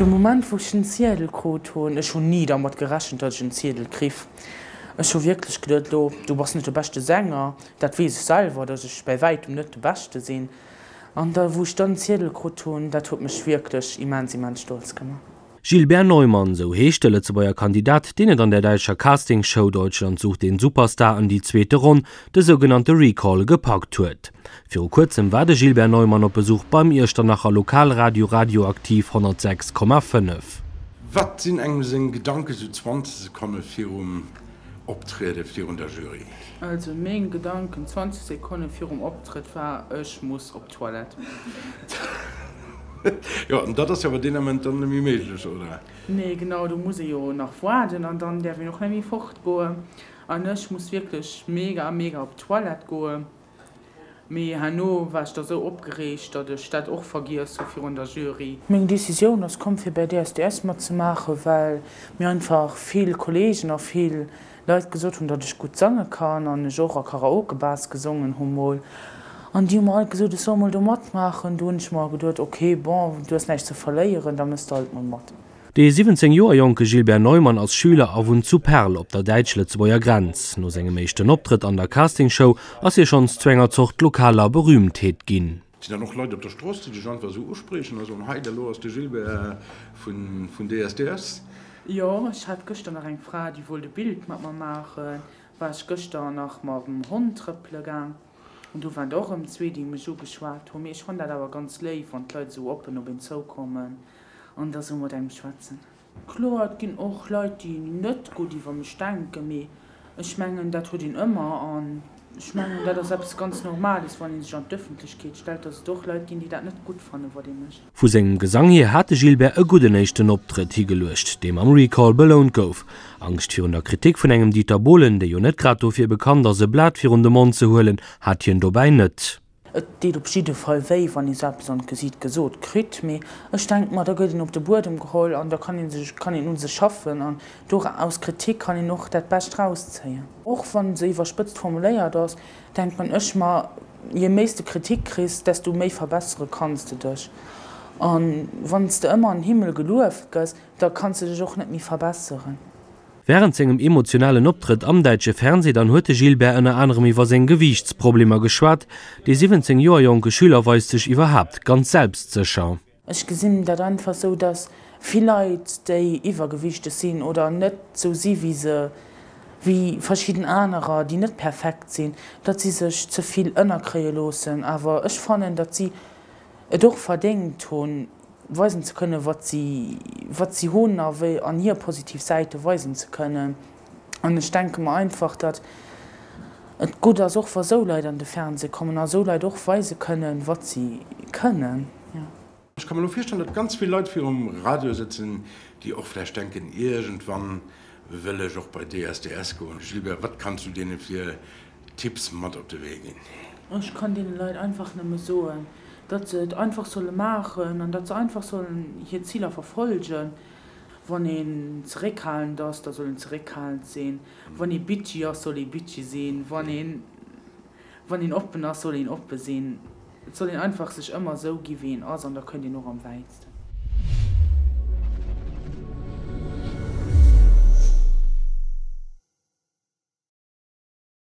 De Moment wou ech den Ziedel krut hunn, ech hunn ni dermat gerechent dat ech en Ziedel kriff, ech hu wierklech geduet, lo du bass net de beschte Sänger, dat weess ech selwer, datt ech bäi wäitem net de beschte sinn, an da wou ech dann den Ziedel krut hunn, dat huet mech wierklech immens immens stolz gemaach. Gilbert Neumann, esou heescht de Lëtzebuerger Kandidat, deen et an der däitscher Castingshow Deutschland sucht den Superstar an déi zweete Ronn, de sougenannte Recall, gepackt huet. Viru kuerzem war de Gilbert Neumann op Besuch beim Iechternacher Lokalradio Radioaktiv 106,5. Wat sinn engem seng Gedanke esou 20 Sekonne virum Optriede virun der Jury? Also meng Gedanken 20 Sekonne virum Optrëtt war, Ech muss op. Toilette. Jo, an dat ass jo awer deen Ament dann net méi méiglech, oder? Nee, genau, do muss ee jo nach waarden an dann däerf een och net méi fortgoen. An ech muss wierklech mega, mega op d'Toilette goen. Mee herno war ech da sou opgereegt, datt ech dat och vergiess hu virun der Jury. Meng Decisioun ass komm fir bäi DSDS matzemaachen, well mir einfach vill Kollegen a vill Leit gesot hunn, datt ech gutt sange kann an ech och a Karaoke-Bars gesongen hu mol. An déi hu mer alt gesot, ech soll mol do matmaachen. Du hunn ech mer geduet, ok, bon, du hues näischt ze verléieren, da mëss de alt mol mat. De 17 Joer jonke Gilbert Neumann ass Schüler a wunnt zu Perl op der däitsch-lëtzebuerger Grenz. No sengem éischten Optrëtt an der Castingshow ass hie schonns zu enger Zort lokaler Berühmtheet ginn. Sinn dann och Leit op der Strooss, déi dech einfach esou uspriechen a soen, Hei, elo ass de Gilbert vun DSDS. Jo, ech hat gëschter nach eng Fra, déi wollt e Bild mat mer maachen. War ech gëschter nach mam Hond trëppele gaang an do waren der och erëm zwee, déi mech ugeschwat hunn. Mee ech fannen dat awer ganz léif, wann d'Leit esou oppen op een zoukommen an da sou mat engem schwätzen. Kloer, et ginn och Leit, déi net gutt iwwer mech denken, mee ech mengen, dat huet een ëmmer. An ech mengen, dat ass eppes ganz Normales, wann ee sech an d'Ëffentlechkeet stellt, dass et och Leit ginn, déi dat net gutt fannen, wat ee mécht. Vu sengem Gesang hier hat de Gilbert e gudden éischten Optrëtt higeluecht, dee mam Recall belount gouf. Angscht virun der Kritik vun engem Dieter Bohlen, dee jo net grad dofir bekannt ass, e Blat virun de Mond ze huelen, hat hien dobäi net. Et deet op jidde Fall wéi, wann ee sou eppes an d'Gesiit gesot kritt, mee ech denk mer, da gëtt een op de Buedem geholl an da kann een sech, kann een u sech schaffen an dora, aus Kritik kann een och dat Bescht rauszéien. Och wann se iwwerspëtzt formuléiert ass, denken ech mer, je méi s de Kritik kriss, desto méi verbessere kanns de dech. An wann s de ëmmer an Himmel gelueft gëss, da kanns de dech och net méi verbesseren. Wärend sengem emotionalen Optrëtt am däitsche Fernsee dann huet de Gilbert ënner anerem iwwer seng Gewiichtsproblemer geschwat. De 17 Joer jonke Schüler weist sech iwwerhaapt ganz selbstsécher. Ech gesinn dat einfach esou, datt vill Leit, déi iwwergewiichteg sinn oder net esou si wéi se, wéi verschidden anerer, déi net perfekt sinn, datt si sech ze vill ënnerkréie loossen. Awer ech fannen, datt si et och verdéngt hunn. weisen ze kënnen wat si wat si hunn a wéi an hir positiv Säite weisen ze kënnen an ech denke mer einfach datt et gutt ass och wa esou Leit an de Fernseh kommen a esou Leit och weise kënnen wat si kënnen jo. Ech ka mer elo virstellen datt ganz vill Leit virum Radio sëtzen déi och vläicht denken iergendwann wëll ech och bei DSDS goen. Gilbert wat kanns du deene fir Tipps mat op de Wee ginn. Ech kann deene Leit einfach nëmme soen, datt se et einfach solle maachen an datt se einfach sollen hir Ziler verfollegen. Wann een zeréckhalend ass, da soll een zeréckhalend sinn. Wann ee bitchy ass, soll ee bitchy sinn. Wann een, wann een oppen ass, soll een oppe sinn. Et soll een einfach sech ëmmer esou ginn, wéi een ass an da kënnt een och am wäitsten.